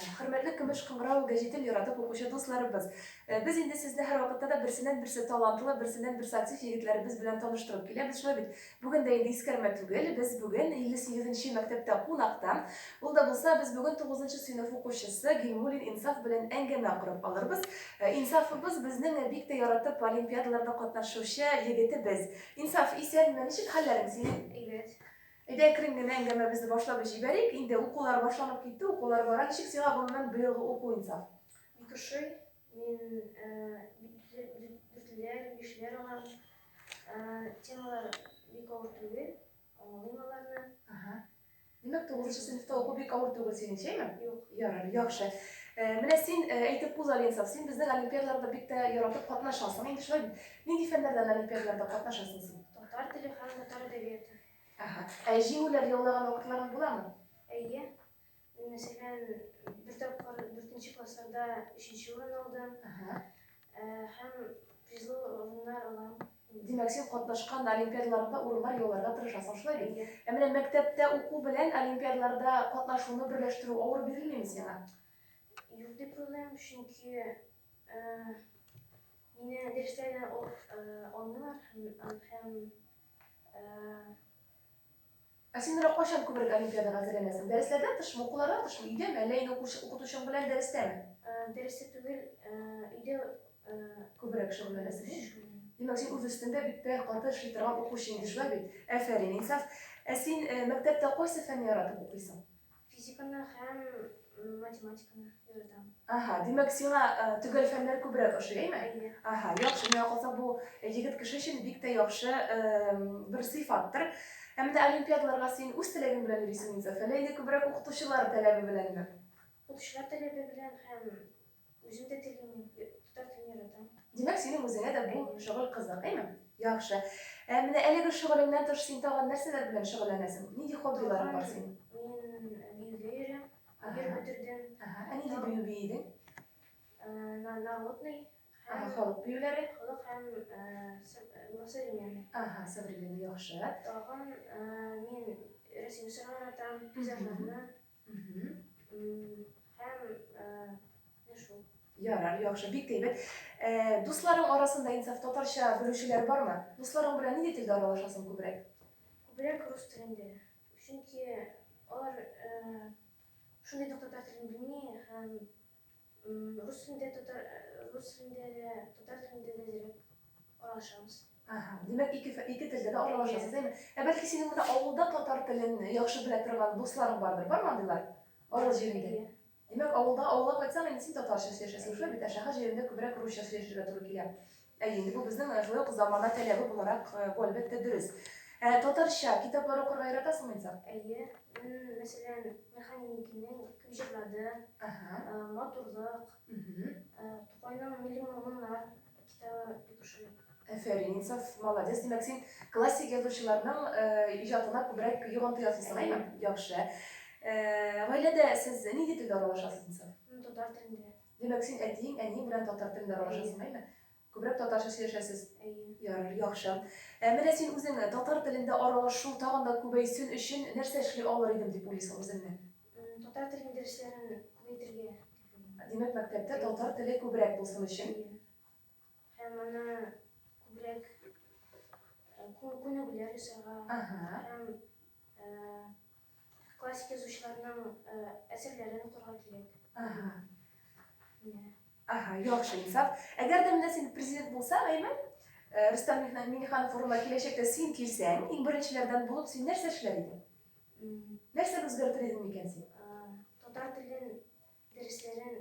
Хөрмәтле Көмеш кыңгырау гәҗитен яратып укучы дусларыбыз! Без инде сезне һәрвакытта да берсеннән-берсе талантлы, берсеннән-берсе актив егетләребез белән таныштырып киләбез шулай бит. Бүген дә инде искәрмә түгел, без бүген 58 нче мәктәптә кунакта. Ул да булса, без бүген тугызынчы сыйныф укучысы Гыйльмуллин Инсаф белән әңгәмә корып алырбыз. Инсафыбыз безнең бик тә яратып олимпиадаларда катнашучы егетебез. Инсаф, исәнме, ничек хәлләрең синең? Әйбәт. Әйдә, әкрен генә әңгәмәбезне башлап җибәрик. Инде укулар башланып китте, укулар бара. Ничек сиңа гомумән быелгы уку Инсаф? Бик ошый. Мин дүртлеләр, бишләр алам. Темалар бик авыр түгел. Аңлыйм аларны. Димәк, тугызынчы сыйныфта уку бик авыр түгел синең, шәйме? Юк. Ярар, яхшы. Менә син әйтеп үз Алинсов, син безнең олимпиадаларда бик тә яратып катнашасың. Инде шулай бит. Нинди фәннәрдән олимпиадаларда катнашасың син? Татар теле һәм татар әдәбияты. Әһә. Ә җиңүләр яулаган вакытларың буламы? Әйе. Мин, мәсәлән, бер тапкыр дүртенче классларда өченче урын алдым. Әһә. Ә, һәм призлы урыннар алам. Димәк, син катнашкан олимпиадаларда урыннар яуларга тырышасың, шулай бит? Әйе. Ә менә мәктәптә уку белән олимпиадаларда катнашуны берләштерү авыр бирелмиме сиңа? Юк дип уйлыйм, чөнки, ә, мине дәресләрдән алып, ә, алмыйлар һәм, һәм Ә син менә кайчан күбрәк олимпиадага әзерләнәсең? Дәресләрдән тышмы, укулардан тышмы, өйдәме, әллә инде укытучың белән дәрестәме? Дәрестә түгел, өйдә күбрәк шөгыльләнәсең. Димәк, син үз өстендә бик тә каты эшли торган укучы инде, шулай бит? Әфәрин, инсаф. Ә син мәктәптә кайсы фәнне яратып укыйсың? Физиканы һәм математиканы яратам. Аһа, димәк, сиңа төгәл фәннәр күбрәк ошый, әйме? Әйе. Аһа, яхшы, миңа калса бу егет кеше өчен бик тә яхшы бер сыйфаттыр. Ә менә олимпиадаларга син үз теләгең белән йөрисеңме, әллә инде күбрәк укытучылар таләбе беләнме? Укытучылар таләбе белән һәм Үзем дә телим, татар телен яратам. Димәк, синең үзеңә дә бу шөгыль кызык, әйме? Яхшы. Ә менә әлеге шөгылеңнән тыш син тагын нәрсәләр белән шөгыльләнәсең? Нинди хоббиларың бар синең? Мин биюгә йөрәм, бер бетердем. Ага, ә нинди бию биедең? Народный. Халык биюләре? Халык һәм современный. Ага, современный, яхшы. Тагын мин рәсем сыгылатам, пейзажларны. Ярар, яхшы, бик әйбәт. Э, дусларың арасында инсаф татарча белүчеләр бармы? Дусларың белән нинди телдә аралашасың күбрәк? Күбрәк рус телендә. Чөнки алар э, шундый татар телен белми һәм Рус телендә татар рус телендә дә, татар телендә дә дирәк аралашабыз. Ага, димәк ике ике телдә дә аралашасыз, әйе. Ә бәлки синең менә авылда татар телен яхшы белә торган дусларың бардыр, бар мандыйлар? Авыл җирендә. Димәк, авылда авылга кайтсаң, инде син татарча сөйләшәсең, шулай бит, ә шәһәр җирендә күбрәк русча сөйләшергә туры килә. Әйе, инде бу безнең менә шулай ук замана таләбе буларак, бу әлбәттә дөрес. Ә татарча китаплар укырга яратасыңмы инде? Әйе, мин, мәсәлән, Механикиның Кем җырлады, Матурлык, Тукайның Милли мур-моннар китабы бик ошый. Әфәрин, Инсаф, молодец. Димәк, син классик язучыларның иҗатына күбрәк йогынты ясыйсың, әйеме? Яхшы. Гаиләдә сез нинди телдә аралашасыз, Инсаф? Татар телендә. Димәк, син әтиең, әниең белән татар телендә аралашасың, әйме? Күбрәк татарча сөйләшәсез? Әйе. Ярар, яхшы. Ә менә син үзең татар телендә аралашу тагын да күбәйсен өчен нәрсә эшли алыр идем дип уйлыйсың үзеңне? Татар телен дәресләрен күбәйтергә дип уйлыйм. Димәк, мәктәптә татар теле күбрәк булсын өчен? Әйе. Һәм аны күбрәк күнегүләр ясарга һәм классик язучыларның әсәрләрен укырга кирәк. Ага. Ага, яхшы, Инсаф. Әгәр дә менә син президент булсаң, әйме? Рустам Миңнеханов форумга киләчәктә син килсәң, иң беренчеләрдән булып син нәрсә эшләр идең? Нәрсә үзгәртер идең микән син? Татар телен дәресләрен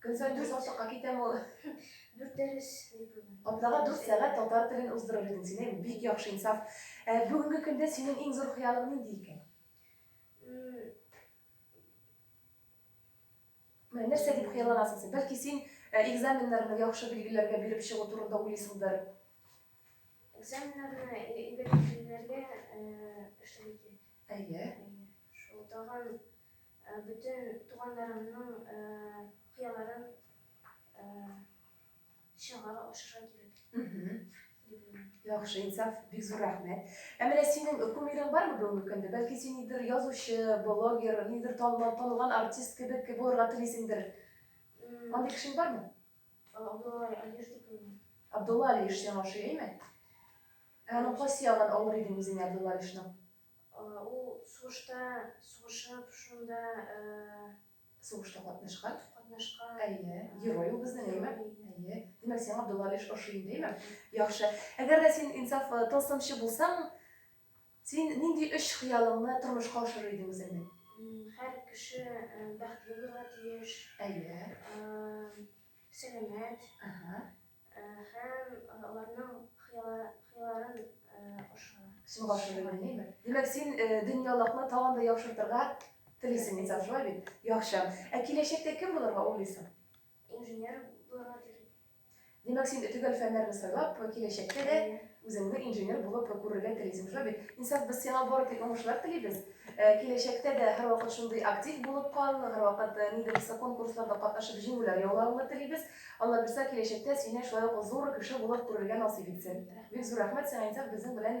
Көн саен дүрт саусакка китәме ул? Дүрт дәрес дипломы. Атнага дүрт сәгать татар телен уздырыр идең син, әйе, бик яхшы, инсаф. Ә бүгенге көндә синең иң зур хыялың нинди икән? Менә нәрсә дип хыялланасың син? Бәлки син э, экзаменнарны яхшы билгеләргә биреп чыгу турында уйлыйсыңдыр? Экзаменнарны әйбәт билгеләргә э, эшләргә кирәк. Әйе. Шул тагын Бөтен туганнарымның хыялларын чыга ашырга кирәк. Яхшы, инсаф, бик зур рәхмәт. Ә менә синең кумирың бармы бүгенге көндә? Бәлки син нидер язучы, блогер, нидер танылган, танылган артист кебек булырга телисеңдер. Андый кешең бармы? Абдулла Алиш дип уйлыйм. Абдулла Алиш сиңа ошый, әйме? Ә аның кайсы ягын авыр идең үзеңә Абдулла Алишның? Ул сугышта сугышып, шунда сугышта катнашкан, катнашкан. Әйе, герой ул безнең, әйме? Әйе. Димәк, сиңа Абдулла Алиш ошый инде, әйме? Яхшы. Әгәр дә син инсаф э, тылсымчы булсаң, син нинди өч хыялыңны тормышка ашырыр идең үзеңне? Һәр кеше э, бәхетле булырга тиеш. Әйе. Э, сәламәт. Ага. Һәм аларның хыялларын аша. Сиңа башлы белмейме? Димәк, син дөньялыкны тагын да яхшыртырга телисең инде, шулай бит? Яхшы. Ә киләчәктә кем булырга уйлыйсың? Инженер булырга телим. Димәк, син төгәл фәннәрне сайлап, киләчәктә дә Үзеңне инженер булып прокурорга телисең шо бит. Инсаф, без сиңа бары тик уңышлар телибез. Киләчәктә дә һәрвакыт шундый актив булып кал, һәрвакыт нидер булса конкурсларда катнашып җиңүләр яулавыңны телибез. Аллабирса, киләчәктә сине шулай ук зур кеше булып күрергә насыйп итсен. Бик зур рәхмәт сиңа, Инсаф, безнең белән